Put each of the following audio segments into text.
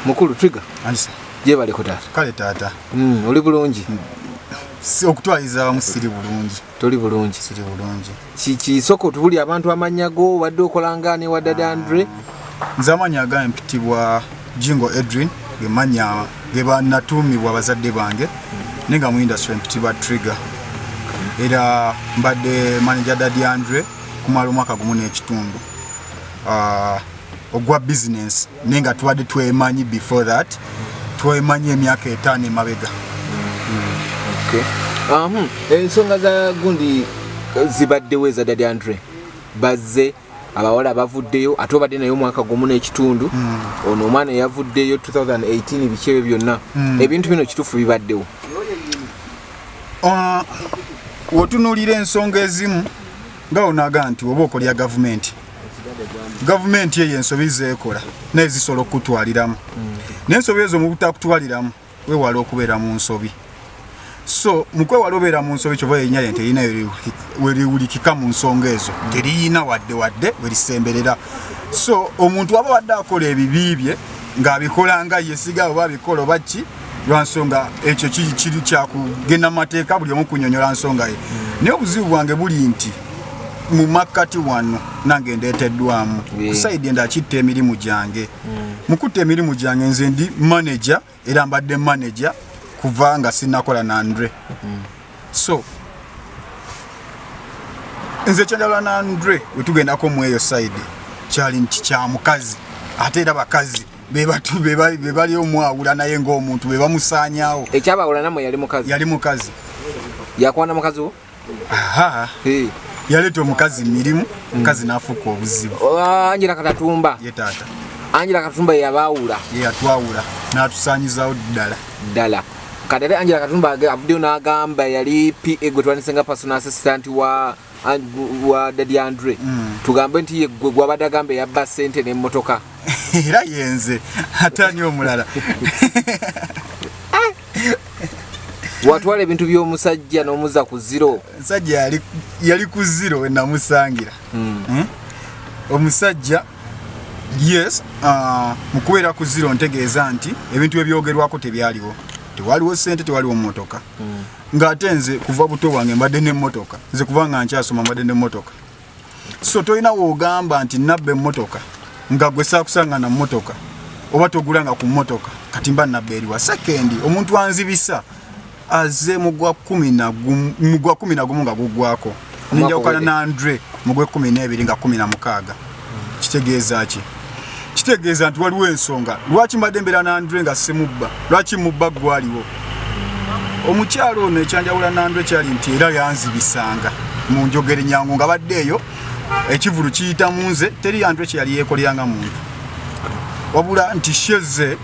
mukulu trigger ansa jebale ko tata kale tata mm oli bulungi mm. si okutwaliza musiri bulungi toli bulungi siri bulungi kiki soko tuli abantu amanya go wadde okolanga ne wadde ah. andre nzamanya ga mpitibwa jingo edrin gemanya geba natumi wa bazadde bange mm. ninga mu industry mpitibwa trigger mm. era mbadde manager daddy andre kumalo mwaka gumu n'ekitundu ah uh, ogwa business naye nga tubadde twemanyi before that twemanyi emyaka etaano emabega hmm, ensonga za gundi eh, zibaddewo eza dadi andre bazze abawala bavuddeyo ate obadde naye omwaka gumu n'ekitundu hmm. ono omwana eyavuddeyo 2018 biki ebyo byonna hmm. ebintu bino kituufu bibaddewo ah, wotunulira ensonga ezimu nga onaga nti oba okolya gavumenti gavumenti eyo ensobi zeekola naye zisobola okukutwaliramu mm. naye ensobi ezo mu butakutwaliramu wewala okubeera mu nsobi so mukwewala obeera mu nsobi kyoba yenya yente erina weriwulikika mu nsonga ezo teriyina wadde wadde werisemberera so omuntu waba wadde akola ebibi bye ng'abikola nga yesiga oba abikola oba ki lwansonga ekyo kiri kyakugenda mateeka buli omu kunyonyola nsonga ye hmm. naye obuzibu bwange buli nti mu makkati wano nange ndeeteddwamu kusaidi enda akitta emirimu gyange hmm. mukutta emirimu gyange nze ndi manaja era mbadde manaja kuva nga sinakola nandre hmm. so nze kyenjala nandre wetugendako mweyo saidi kyali nti kyamukazi ate era bakazi bebatu bebali omwawula naye ngaomuntu bebamusanyawo ekyabawula namwe yali mukazi yali mukazi yakwana mukazi wo yaleeta omukazi mirimu mukazi nafuuka obuzibu oh, anjira katatumba ye taata anjira katatumba yeyabaawula yeyatwawula natusanyizawo ddala ddala kati ate anjira katatumba avuddeyo n'agamba yali pa gwe twandise nga personal assistant wa wa dadi andre mm. tugambe nti yegwe gwabadde agamba eyabba sente nemotoka era yenze atani omulala ah! watwala ebintu byomusajja nomuza ku ziro musajja yali ku ziro wenamusangira mm. hmm? omusajja yes uh, mukubeera ku ziro ntegeeza nti ebintu ebyogerwako tebyaliwo tewaliwo sente tewaliwo motoka mm. nga ate nze kuva buto bwange mbadde n'emmotoka nze kuva nga nkyasoma mbadde n'emmotoka so tolina woogamba nti nabba emmotoka nga gwe saakusanga na mmotoka oba togulanga ku mmotoka kati mba nabba eriwa sekendi omuntu anzibisa aze mugwa kumi nagumu nga gugwako nenjawukana na andre mugwe kumi n'ebiri nga kumi na mukaaga kitegeeza ki kitegeeza nti waliwo ensonga lwaki mbadde mbeera nandre nga simubba lwaki mubba gwaliwo omukyalo ono ekyanjawula nandre kyali nti era yanzibisanga mu njogere nyangu nga badde eyo ekivulu kiyita mu nze teri yandre kyeyali yeekolera nga muntu wabula nti sheze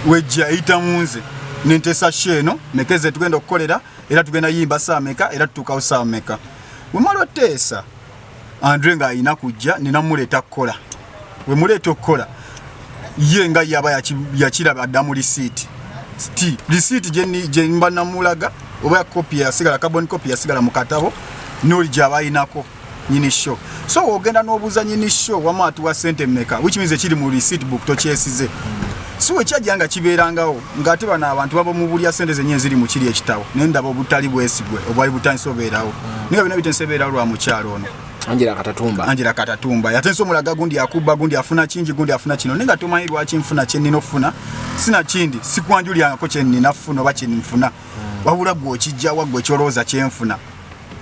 wejja eyita mu nze nentesa she eno mekeze tugenda okukolera era tugenda yimba saameka era tutuukawo saameka wemala oteesa andre nga alina kujja nina muleeta kukola we muleeta okukola ye nga yaba yakiraba adda mu lisiiti sti lisiiti gyemba namulaga oba kopi yasigala carbon kopi yasigala mu katabo noli gyaba ayinako nyini show so ogenda n'obuuza nyini show wama atuwa sente meka which means ekiri mu lisiiti book tokyesize si we kyajja nga kibeerangawo ng'ate bano abantu baba mu bulya ssente zenye eziri mu kiri ekitabo naye ndaba obutali bwesigwe obwali butandise obeerawo naye nga byona bitensi ebeerawo lwa mukyalo ono Angela Katatumba Angela Katatumba yatenso mulaga gundi akuba gundi afuna kingi gundi afuna kino ninga tomanyi lwaki nfuna kyenni nofuna sina kindi sikwanjulyangako kyenni nafuna oba kyenni nfuna hmm. wabula gwe okijjawa gwe kyolowooza kyenfuna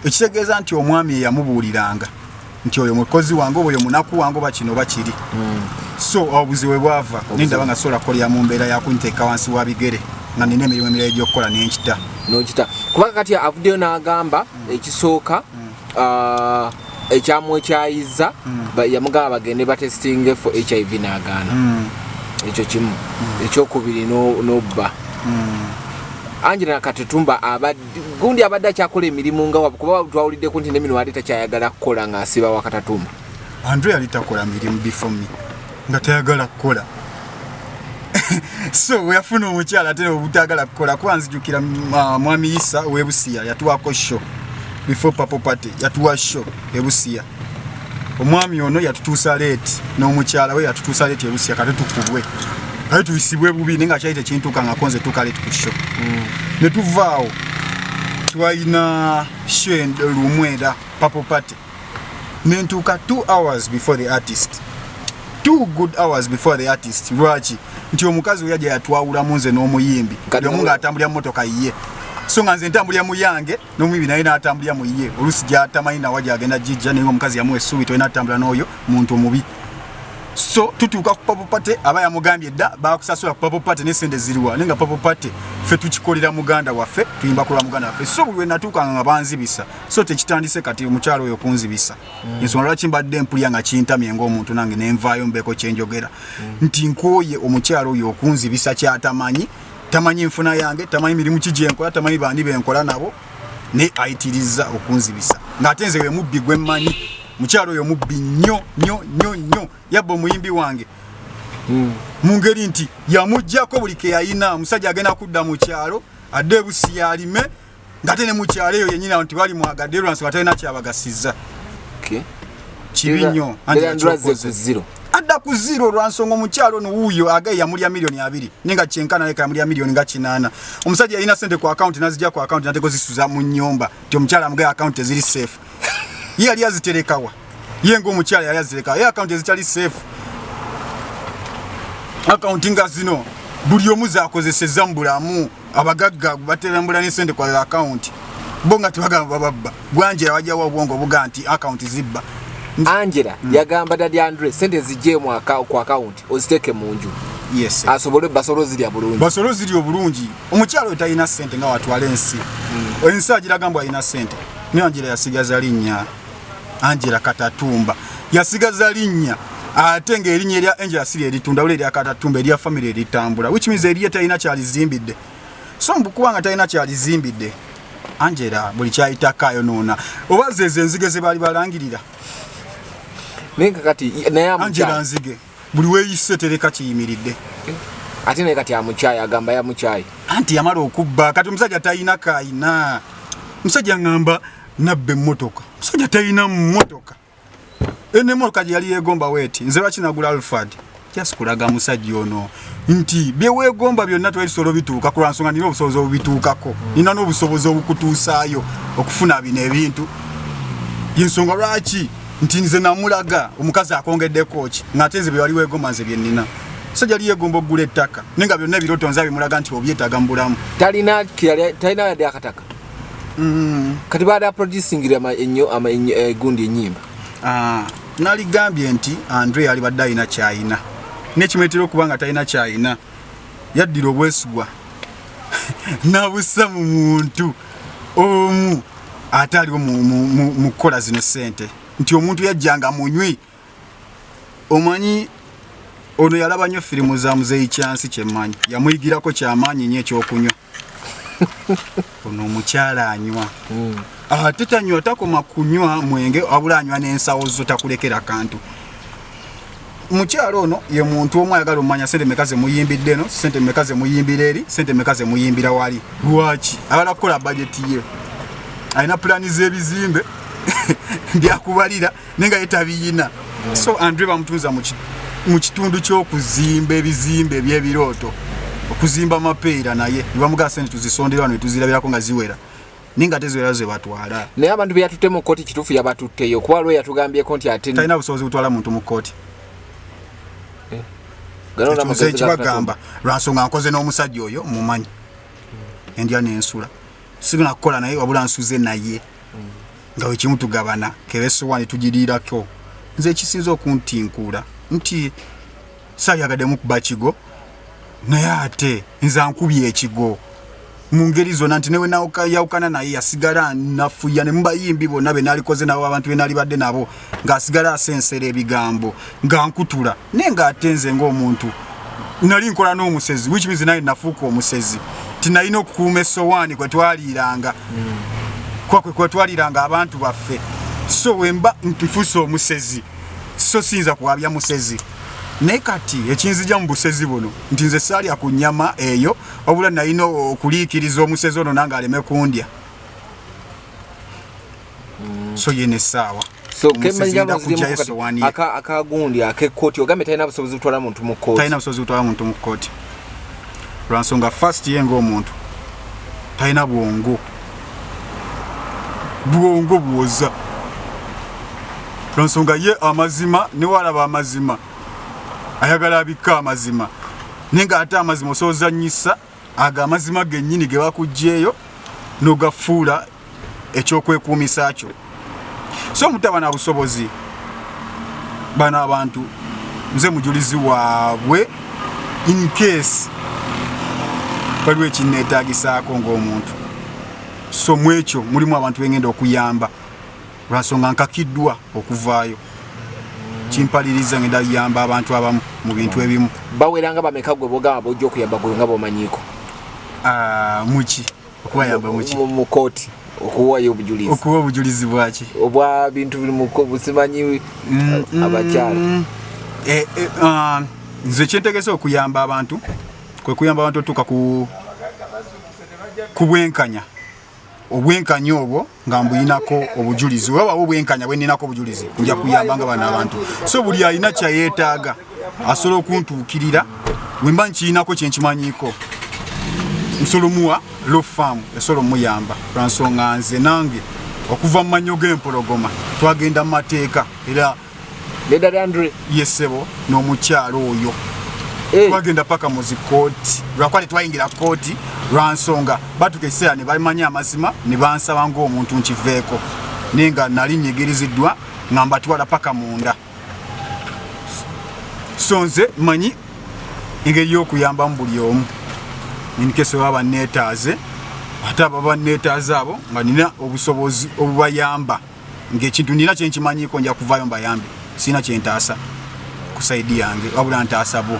ekitegeeza nti omwami eyamubuuliranga nti oyo mukozi wange oba oyo munaku wange oba kino oba kiri hmm. so obuzibu we bwava nendaba nga sobola kukolera mu mbeera yakunteeka wansi wa bigere nga nina emirimu emirala egyokukola nenkita nokita kubanga kati avuddeyo n'agamba hmm. ekisooka hmm. Ah, ekyamwekyayiza yamugamba bagende batestinge fo hiv n'agaana ekyo kimu ekyokubiri n'obba angela katetumba abadde gundi abadde akyakola emirimu nga wabu kuba twawuliddeko nti nemino ate takyayagala kukola ng'asiba wakatatuma andrew yali takola mirimu bifomi nga tayagala kukola so weyafuna omukyala ate obutagala kukola kuba nzijukira uh, mwami isa webusiya yatuwako show before papo party yatuwa show ebusiya omwami ono yatutuusa leeti n'omukyala we yatutuusa leeti ebusia kate tukubwe kate tuyisibwe bubi naye nga kyali tekintuuka nga konze tuka leeti ku sho mm. ne tuvaawo twalina sho lumu era papo party ne ntuuka two hours before the artist two good hours before the artist lwaki nti omukazi oyaja yatwawulamu nze n'omuyimbi yomu ng'atambulira mu motoka yiye so nga nze ntambulira mu yange nomuyibi naye natambulira mu yiye olusi gyatamanyi nawa gyagenda jijja naye omukazi yamuwa essuubi tolina atambula n'oyo muntu omubi so tutuuka ku papo pate aba yamugambye dda bakusasula ku papo pate nesente ziriwa naye nga papo pate ffe tukikolera muganda waffe tuyimba kulwa muganda waffe so buli wenatuukanga nga banzibisa so tekitandise kati omukyalo oyo kunzibisa mm. ensonga lwaki mbadde mpulira nga kintamye ngaomuntu nange nenvaayo mbeeko kyenjogera mm. nti nkooye omukyalo oyo okunzibisa kyatamanyi tamanyi nfuna yange tamanyi mirimu ki gyenkola tamanyi bandi benkola nabo naye ayitirizza okunzibisa ng'ate nze wemubbi gwe mmanyi mukyalo oyo mubbi nnyo nnyo nnyo nnyo yabba omuyimbi wange hmm. mu ngeri nti yamugjako buli keyayina omusajja agenda kudda mu kyalo adde ebusi yalime ngate ne mukyalo eyo yenyini abantu bali mwagade lwansi batalina kyabagasiza kibi nnyo adda ku zero lwansonga omukyalo no wuuyo agaye yamulya miliyoni abiri naye nga kyenkana leka yamulya miliyoni nga kinaana omusajja yalina sente ku akawunti nazija ku akawunti nateko zisuza mu nyumba nti omukyalo amugaye akawunti eziri safe ye yali aziterekawa ye ng'omukyala yali azireka ye akawunti ezitali safe akawunti nga zino buli omu zakozeseza mu bulamu abagagga baterambula n'esente kwa akawunti bo nga tebagamba bababba gwanjera wajawo obwongo obuga nti akawunti zibba angela mm. yagamba dadi andre sente zijje mu ku akawunti oziteeke mu nju yes. asobole basolo zirya bulungi basolo zirya obulungi omukyala oyo talina sente nga watwala ensi mm. ensi agiragambwa alina sente naye angela yasigaza linnya Angela Katatumba yasigaza linnya ate ng'erinnya erya Angela si lyeritunda wala erya Katatumba erya famire eritambula which means eriye talina kyalizimbidde so mbukuba nga talina kyalizimbidde Angela buli kyayitako ayonoona oba zezo enzige ze baali balangirira naye kakati naye Angela nzige buli weyise tereka kiyimiridde ate naye kati amukyayi agamba yamukyayi anti yamala okubba kati omusajja talina kayina musajja ngamba nabba emmotoka musajja talina mmotoka eno emmotoka gye yali yegomba weti nze lwaki nagula alfad just kulaga musajja ono nti byewegomba byonna twebisolo bituuka ku lwansonga nina obusobozi obubituukako nina n'obusobozi obukutuusaayo okufuna bino ebintu yensonga lwaki nti nze namulaga omukazi akongeddeko ki ng'ate nze bye wali weegoma nze bye nnina so jali yegomba okugula ettaka naye nga byonna ebiroto nze abimulaga nti obyetaaga mu bulamu talina talina yadde akataka mm. kati baada aproducingira enyo egundi eh, enyimba ah, naligambye nti andre yali badde alina kyayina nekimuletera okuba nga talina kyayina yaddira obwesigwa nabussa mu muntu omu ate aliwo mu kukola zino sente nti omuntu yajjanga munywi omanyi ono yalaba nnyo firimu za muzeeyi kyansi kyemanyi yamuyigirako kyamaanyi nyo ekyokunywa ono omukyala anywa hmm. ate tanywa takoma kunywa mwenge abula anywa n'ensawo zo takulekera kantu mukyalo ono ye muntu omu ayagala omumanya sente meka zemuyimbidde eno sente meka zemuyimbira eri sente meka zemuyimbira wali lwaki ayagala kukola bajeti ye alina pulani z'ebizimbe byakubalira naye nga yetabiyina so andre bamutunza mu kitundu ky'okuzimba ebizimbe eby'ebirooto okuzimba mapeera naye nebamugaa sente tuzisondera wano netuzirabirako nga ziwera ninga ate ziwera ze batwala naye abantu be yatutte mu kkooti kituufu yabatutteyo kuba lwe yatugambyeko nti ate talina busobozi butwala muntu mu kkooti eh. nze kibagamba lwansonga nkoze n'omusajja oyo mumanyi hmm. endya nensula signa kukola naye wabula nsuze naye hmm. nga wekimu tugabana kebesowani tugiriirako nze ekisinza okuntinkuula nti sayagademu kuba kigo naye ate nze ankubye ekigo mu ngeri zonna nti newe yawukana naye yasigala nafuya ne mubayimbi bonna be nalikoze nabo abantu be nalibadde nabo ng'asigala asensera ebigambo nga nkutula naye ng'ate nze ng'omuntu nali nkola n'omusezi which means naye nafuuka omusezi nti nalina okukuuma essowaani kwe twaliiranga kwakwe kwe twaliiranga abantu baffe so wemba ntufuuse omusezi so siyinza kuwabya musezi naye kati ekinzija mu busezi buno nti nze saalya ku nyama eyo wabula nalina okuliikiriza omusezi ono nange aleme kundya mm. so yena essaawa akagundi akekooti ogambe talina busobozi butwala muntu mukooti talina busobozi butwala muntu mu kooti lwansonga fast ye ngaomuntu talina bwongo bwongo buwoza lwansonga ye amazima newalaba amazima ayagala abikka amazima naye nga ate amazima osoozanyisa ago amazima gennyini ge bakugjeeyo nogafuula ekyokwekuumisa kyo so mutaba na busobozi bana abantu nze mujulizi waabwe in case waliwo ekinneetaagisaako ng'omuntu so mu ekyo mulimu abantu bengenda okuyamba lwansonga nkakiddwa okuvaayo kimpaliriza ngenda yamba abantu abamu mu bintu ebimu baweranga bameka gwe bogamba bojja okuyamba gwe nga bomanyiiko ah, muki okubayamba muki mu kooti okuwayo obujulizi okuwa obujulizi bwaki obwa bintu biri mu busimanyi mm, mm. abakyala eh, eh, ah, nze ekyentegese okuyamba abantu kwe kuyamba abantu otuuka ku ku bwenkanya obwenkanya obwo nga mbuyinako obujulizi oba wawo bwenkanya bweninako obujulizi nja kuyamba nga bano abantu so buli alina kyayetaaga asobola okuntuukirira wemba nkiyinako kyenkimanyiko nsolomuwa lo faamu esobola omuyamba lwansonga nze nange okuva mu manyo g'empologoma twagenda mu mateeka era yesebo n'omukyalo oyo eh. twagenda paka muzi kooti lwakuba tetwayingira kooti lwansonga batuka ekiseera ne bamanya amazima ne bansaba ngaomuntu nkiveeko naye nga nali nyigiriziddwa nga mbatwala paka munda so nze manyi engeri y'okuyambamu buli omu inkese baba neetaaze ate ababa neetaaze abo nga nina obusobozi obubayamba ng'ekintu nina kyenkimanyiko nja kuvaayo mbayambe sirina kyentaasa ku saidi yange wabula ntaasa bo